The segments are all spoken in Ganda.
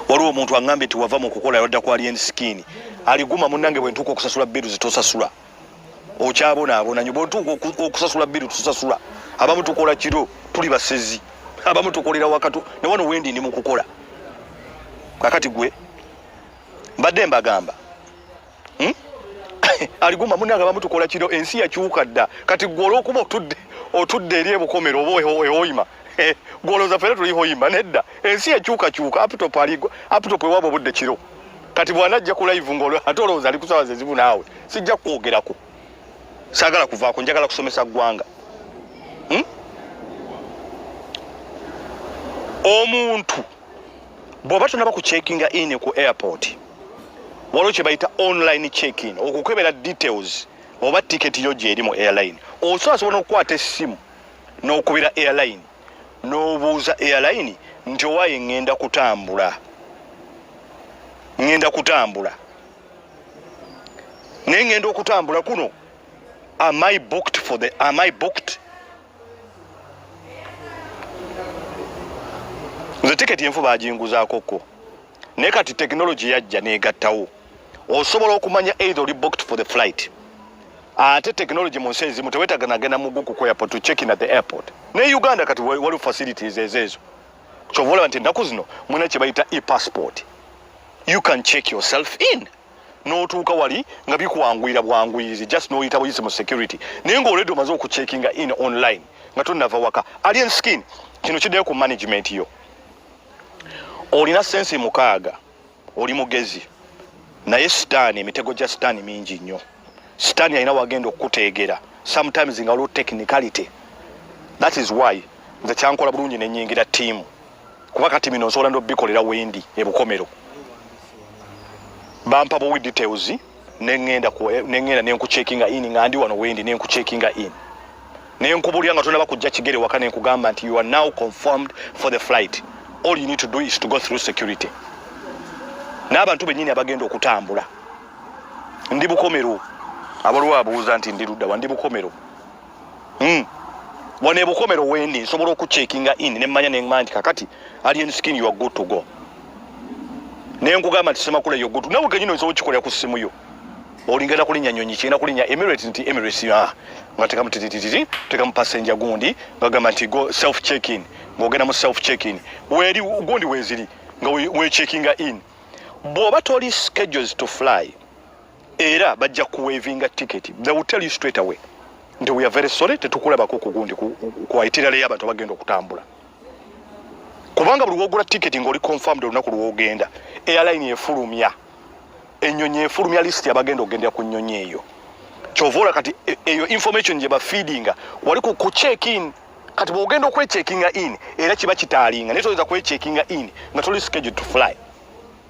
waliwo omuntu aŋambye nti wava mu kukola yadda ku alien skin aliguma munange bwentuuka okusasula biru zitosasula okyabonaabona nyo bwentuuka okusasula biru tusasula abamu tukola kiro tuli basezi abamu tukolera wakatu ne wano wendi ndi mu kukola kakati gwe mbadde mbagamba hmm? aliguma munanga bamutukola kiro ensi yakyuka dda kati gwe olwokuba otudde otudde eri ebukomero oba ewoyima eh, gwolooza fena tuli hoyima nedda ensi yakyukakyuka aptop aligwa aptop ewaba obudde kiro kati bwanajja ku live ngaol ate olowooza ali kusawa zezibu naawe sijja kukwogerako sagala kuvaako njagala kusomesa ggwanga hmm? omuntu bw'oba tonaba ku checkinga in ku airport waliwo kye bayita online checkin okukebera details oba tiketi yo gyeri mu airline osobola sobola n'okukwata essimu n'okubira airline n'obuuza airline nti owaye ŋŋenda kutambula ŋŋenda kutambula naye ŋŋenda okutambula kuno am i booked for the am i booked nze tiketi enfu baginguzaako ko naye kati tekinologi yajja negattawo osobola okumanya either oli booked for the flight ate tekinologi mu nsi ezimu tewetaga nagenda muguku ku airport to check in at the airport naye uganda kati waliwo facilities ezeezo kyova olaba nti ennaku zino mulina kye bayita e passport you can check yourself in n'otuuka wali nga bikwanguyira bwanguyirizi just n'oyita buyisi mu security naye nga oledi omaze okucheckinga in online nga tonava waka alien skin kino kiddayo ku management yo olina sensi mukaaga oli mugezi naye sitaani emitego gya sitaani mingi nnyo sitaani alina wagenda okukuteegera sometimes nga waliwo technicality that is why nze kyankola bulungi nenyingira tiimu kuba kati bino nsobola nobikolera wendi ebukomero bampa buwi details nengenda nengenda nenkucheckinga in nga ndi wano wendi nenkucheckinga in nenkubulira nga tonaba kujja kigere waka nenkugamba nti you are now confirmed for the flight all you need to do is to go through security n'abantu benyini abagenda okutambula ndi bukomero abaliwo abuuza nti ndi luddawa ndi bukomero mm. wano ebukomero wendi nsobola okucheckinga in nemmanya nemanya nti kakati alien skin you are good to go naye nkugamba nti semakula yo good nawe kenyini nsobola okikolera ku simu yo olingenda kulinya nyonyi kyenda kulinya emirates nti emirates ah, nga tekamu titititi tekamu passenger gundi bagamba nti go self check in ngogenda mu self check in weri gundi weziri nga we checkinga in bwoba toli schedules to fly era bajja kuwevinga ticket they will tell you straight away nti we are very sorry tetukulabako kugundi kuwaitirale yabantu abagenda okutambula kubanga buli wogula ticket ngaoli confirmed olunaku lwogenda airline efulumya enyonyi efulumya list yabagenda ogendera ku nyonyi eyo kyovaola kati e, eyo information gye bafeedinga wali ku check in kati bwogenda okwechekinga in era kiba kitaalinga naye toyinza kwechekinga in nga toli scheduled to fly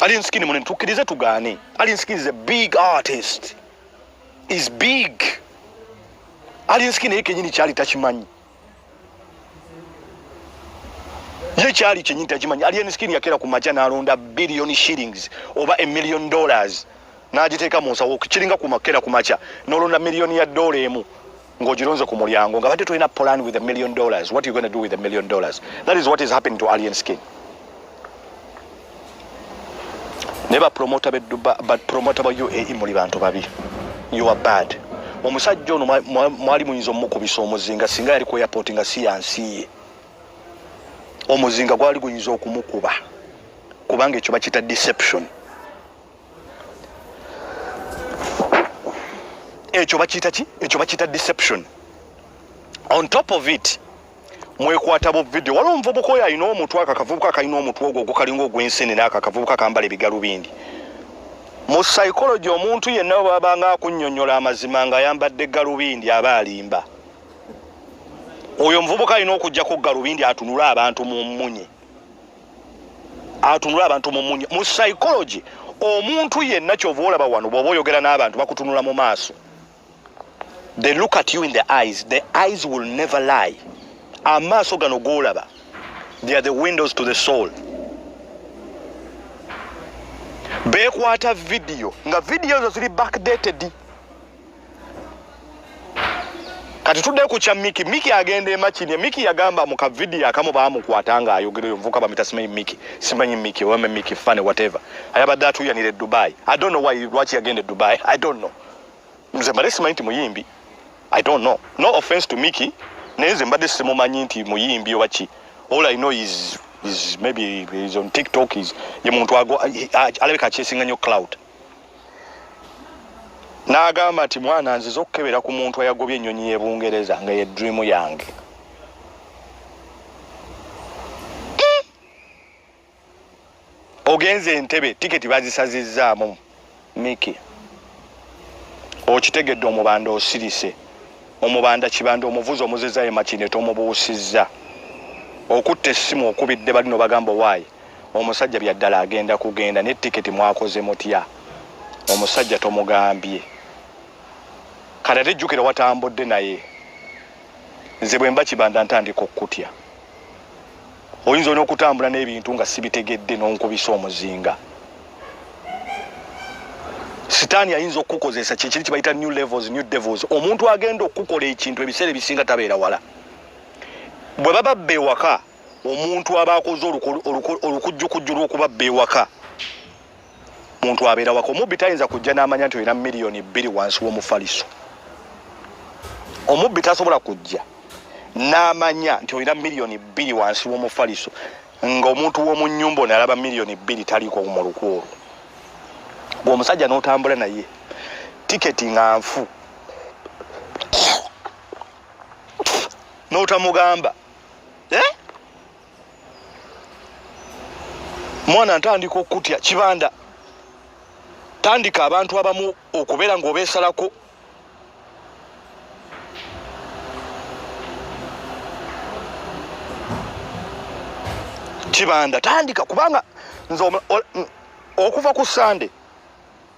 ali nsikini munene tukkirize tugaane ali nsikini is a big artist is big ali nsikini ye kenyini kyali takimanyi ye kyali kyenyini takimanyi ali nsikini yakeera ku maja nalonda billion shillings oba a million dollars n'agiteeka mu nsawo kiringa kumakera ku makya n'olonda miliyoni ya ddoola emu ngojironze ku mulyango nga bade toyina plan with a million dollars what you going to do with a million dollars that is what is happening to alien skin neba promoter be duba but promoter ba UAE muli bantu babi you are bad omusajja ono mwali muyinza omukubisa omuzinga singa yali ku airport nga si yansiye omuzinga gwali guyinza okumukuba kubanga ekyo bakita deception ekyo bakiyita ki ekyo bakiyita deception on top of it mwekwata bu video waliwo omuvubuka oyo alina omutwe ako akavubuka akalina omutwe ogwo ogukalinga ogwensenene ako akavubuka kambala ebigalubindi mu psychology omuntu yenna webabanga akunyonyola amazima nga ayambadde galubindi aba alimba oyo omuvubuka alina okujjako galubindi atunule abantu mu mmunye atunula abantu mu munya mu psychology omuntu yenna kyova olaba wano bwoba oyogera n'abantu bakutunula mu maaso they look at you in the eyes the eyes will never lie amaaso gano golaba they are the windows to the soul bekwata vidiyo nga vidiyo ezo ziri backdated kati tudde ku kya miki miki agenda emakini miki yagamba mu kavidiyo akamu baamukwata nga ayogera oyo muvuka bamita simanyi miki simanyi miki oweme miki fane whatever ayabadde atuyanira e dubai i don't know why lwaki yagenda e dubai i don't know nze mbadde simanyi nti muyimbi i don't know no offense to miki naye nze mbadde simumanyi nti muyimbi oba ki all i know is, is maybe is on tiktok is ye muntu alabeka akyesinga nyo cloud n'agamba nti mwana nziza okukebera ku muntu ayagobye ennyonyi y'e bungereza nga ye diriimu yange ogenze entebe tiketi bazisazizzaamu miki okitegedde omubanda osirise omubanda kibanda omuvuzi omuzizza ye makine tomubuusizza okutta essimu okubidde balino bagamba waayi omusajja byaddala agenda kugenda ne tiketi mwakoze mutya omusajja tomugambye kati ate jjukira watambudde naye nze bwemba kibanda ntandika okukutya oyinza olina okutambula n'ebintu nga sibitegedde n'onkubisa omuzinga sitaani ayinza okukukozesa kyekiri kibayita new levels new devils omuntu agenda okukukola ekintu ebiseera ebisinga tabeera wala bwe baba bba ewaka omuntu aba akoze olukujjukujju lw'okuba bba ewaka muntu abeera waka omubbi tayinza kujja n'amanya nti olina miliyoni bbiri wansi w'omufaliso omubbi tasobola kujja n'amanya nti olina miliyoni bbiri wansi w'omufaliso ng'omuntu w'omu nnyumba ono alaba miliyoni bbiri taliiko mu luku olwo gwe omusajja n'otambula naye tiketi nga nfu n'otamugamba eh? mwana ntandika okukutya kibanda tandika abantu abamu okubeera ngaobesalako kibanda tandika kubanga nze okuva ku sande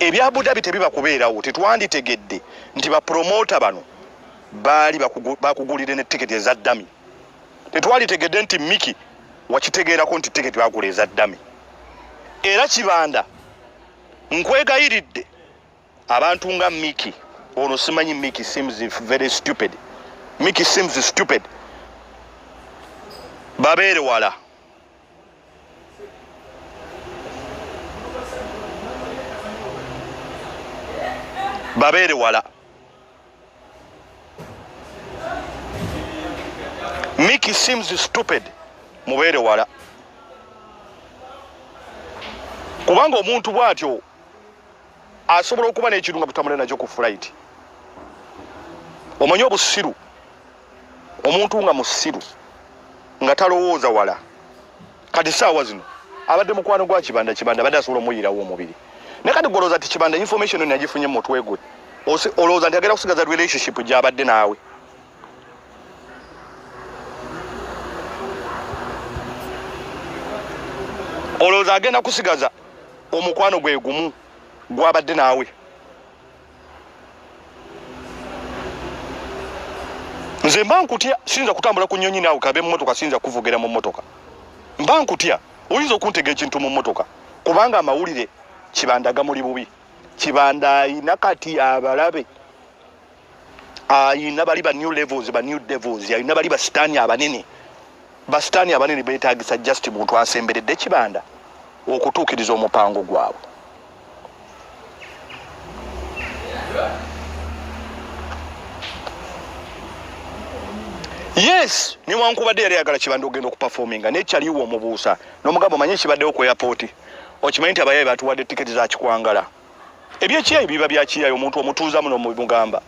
ebya budabi tebiba kubeerawo tetwanditegedde nti bapromota bano baali bakugulire ne tiketi eza dami tetwalitegedde nti miki wakitegeerako nti tiketi bagula eza dami era kibanda nkwegayiridde abantu nga miki ono simanyi miki seems very stupid miki seems stupid babeere wala babeere wala miki seems stupid mubeere wala kubanga omuntu bwatyo asobola okuba n'ekintu nga tutamule nakyo ku flight omanyi obusiru omuntu nga musiru nga talowooza wala kati saawa zino abadde mukwano gwa kibanda kibanda abadde asobola omuyirawo omubiri naye kati golooza ti kibanda information yona yagifunye mu mutwe gwe olowooza nti agenda kusigaza relationship gyabadde naawe olowooza agenda kusigaza omukwano gwe gumu gwabadde naawe nze mba nkutya siyinza kutambula ku nyonyi naawe kabe mumotoka siyinza kuvugira mu motoka mba nkutya oyinza okuntega ekintu mu motoka kubanga amawulire kibandaga muli bubi kibanda ayina kati abalabe ayina bali ba new levels ba new devils ayina bali basitaani abanene basitaani abanene betagisa just muntu asemberedde kibanda okutuukiriza omupango gwabwe yes newankubadde yali ayagala kibanda ogenda okupafominga naye kyaliwo omubuusa nomugamba omanye kibaddewo ku airpoti okimanyi nti abayaye batuwadde tiketi zakikwangala ebyekiyayi biba byakiyayi omuntu omutuuzamu nomugamba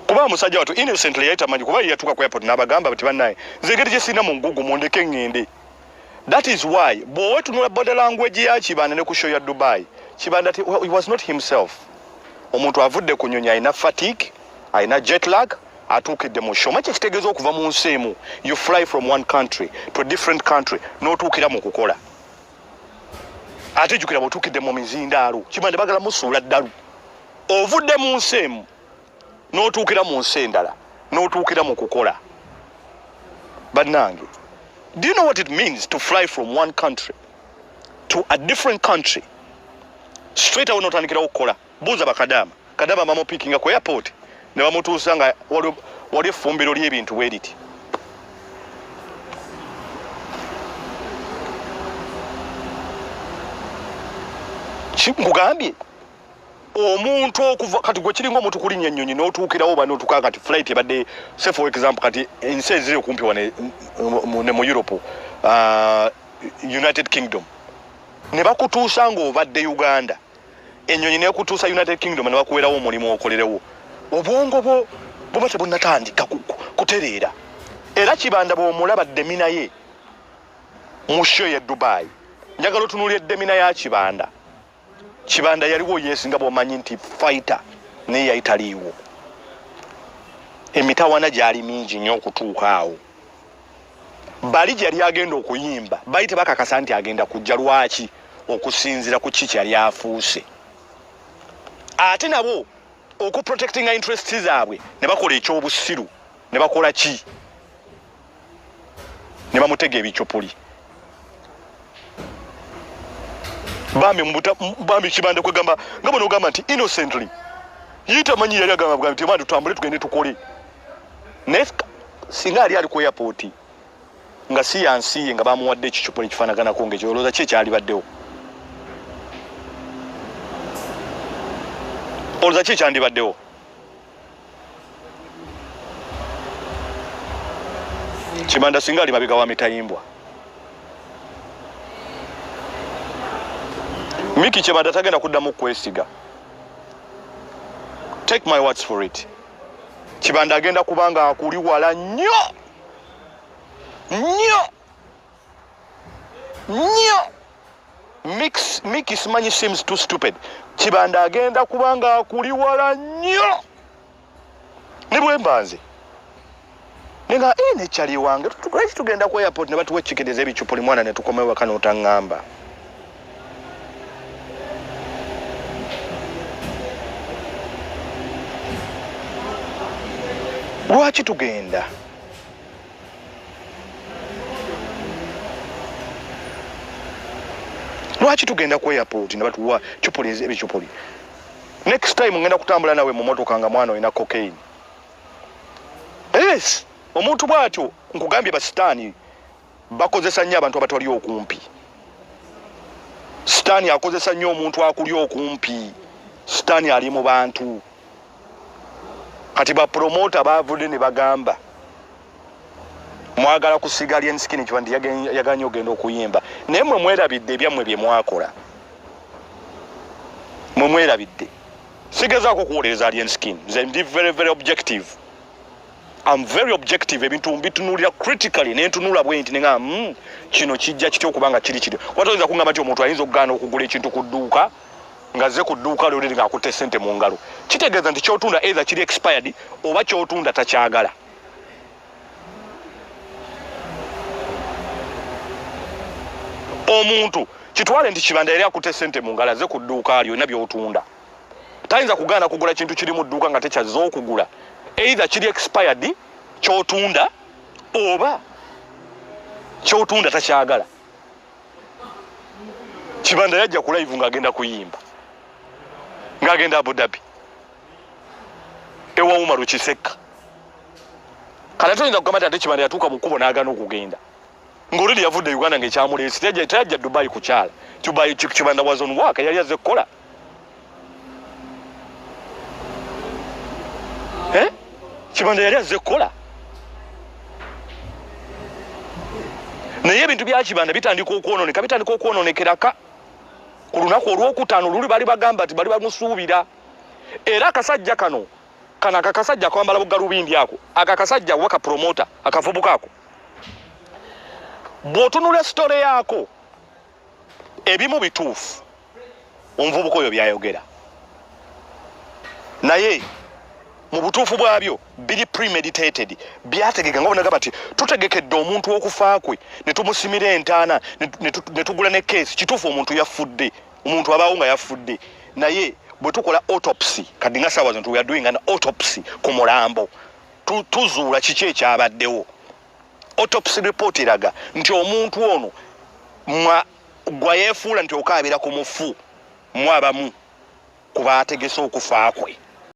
kuba musajja watu innocently yali tamanyi kuba yeyatuka ku airport nabagamba nti banaye nze engeri gyesirina mu nkugu mundeke ngende that is why bwowe tunula body language ya kibanda ne ku show ya dubai kibanda he was not himself omuntu avudde ku nyonyi alina fatigue alina jet lag atuukidde mu show maki ekitegeeza okuva mu nsi emu you fly from one country to a different country n'otuukira mu kukola ate jukira bwotuukidde mu mizindaalo kibanda bagala musuula ddalu ovudde mu nsi emu n'otuukira mu nsi endala n'otuukira mu kukola bannange do you know what it means to fly from one country to a different country straight awo n'otandikirawo okukola buuza bakadaama kadaama bamupikinga ku airport ne bamutuusa nga wali effumbiro ly'ebintu bwe liti nkugambye omuntu okuva kati gwe kiringa omuntu kulinnya ennyonyi n'otuukirawo oba n'otuuka kati flight ebadde se for example kati ensi eziri okumpi wa ne mu europe uh, united kingdom ne bakutuusa ng'obadde uganda ennyonyi nekutuusa united kingdom ne bakuwerawo omulimu okolerewo obwongo bwo buba tebunnatandika kutereera era kibanda bw'omulaba demina ye mu sho ye dubai njagala otunulira edemina ya kibanda kibanda yaliwo yes nga bwomanyi nti fighter naye yali taliiwo emitawana gyali mingi nnyo okutuuka awo bali gyeyali agenda okuyimba bali tebakakasa nti agenda kujja lwaki okusinzira ku ki kyeyali afuuse ate nabo okuprotectinga interest zaabwe ne bakola ekyobusiru ne bakola ki ne bamutega ebicupuli bambi mubuta bambi kibanda kwegamba nga bano ogamba nti innocently yita manyi yali agamba bwa nti bandi tutambule tugende tukole naye singa ali ali ku airport nga si yansi ye nga bamuwadde ekicupa ekifanaganako ngekyo olowooza ki ekyalibaddewo olowooza ki ekyandibaddewo kimanda singa ali mabega wa mitayimbwa miki kyebanda tagenda kuddamu kwesiga take my words for it kibanda agenda kubanga akuli wala nnyo nnyo nyo mix miki simanyi seems too stupid kibanda agenda kubanga akuli wala nyo nibwembanze nenga e eh, nekyali wange lwaki tugenda ku airport nebatuwa ekikendeza ebicupuli mwana netukomewo waka notangamba lwaki tugenda lwaki tugenda ku airport ne batuwa cupuli ebikyupuli next time ngenda kutambula nawe mu motoka nga mwana olina cocaine yes omuntu bwatyo nkugambye basitaani bakozesa nnyo abantu abatali okumpi sitaani akozesa nnyo omuntu akuli okumpi sitaani ali mu bantu kati bapromota bavudde ne bagamba mwagala kusiga lyensikini kiba nti yaganye ogenda okuyimba naye mwe mwerabidde ebyammwe bye mwakola mwe mwerabidde sigezaako okuwolereza lyensikini nze ndi very very objective am very objective ebintu mbitunulira critically nentunula bwe nti nengamba hmm, kino kijja kitya okuba nga kiri kiri wata oyinza kungamba nti omuntu ayinza okugaana okugula ekintu ku dduuka nga zze ku dduuka lyo liri ng'akutte ssente mu ngalo kitegeeza nti kyotunda either kiri expired oba kyotunda takyagala omuntu kitwale nti kibanda yali akutte ssente mu ngalo azze ku dduuka lyo yonna byotunda tayinza kugaana kugula kintu kiri mu dduuka nga tekyazze okugula either kiri expired kyotunda oba kyotunda takyagala kibanda yajja ku live ng'agenda kuyimba ng'agenda abudabi ewa umaru kisekka kala toyinza kugamba ti ate kibanda yatuuka mu kkubo n'agana okugenda ng'oluli yavudde uganda ng'ekyamuleesi teyajja dubayi kukyala kibanda wazon waka yali azze kukola eh? kibanda yali azze kukola naye ebintu byakibanda bitandika okwononeka bitandika okwononekeraka ku lunaku olwokutaano luli bali bagamba nti bali bamusuubira era akasajja kano kano akakasajja akwambala bugalubindi ako ako akasajja oba kapromota akavubuka ako bw'otunula sitole yaako ebimu bituufu omuvubuka oyo byayogera naye mu butuufu bwabyo biri premeditated byategeka nga bonagamba ti tutegekedde omuntu okufa kwe ne tumusimira entaana ne tugula ne keesi kituufu omuntu yafudde omuntu abaawo nga yafudde naye bwe tukola autopsy kadi nga saawa zintu weadoing an autopsy ku mulambo tuzuula kiki ekyabaddewo autopsy report eraga nti omuntu ono mwa gwa yefuula nti okaabira ku mufu mwabamu ku baategese okufa kwe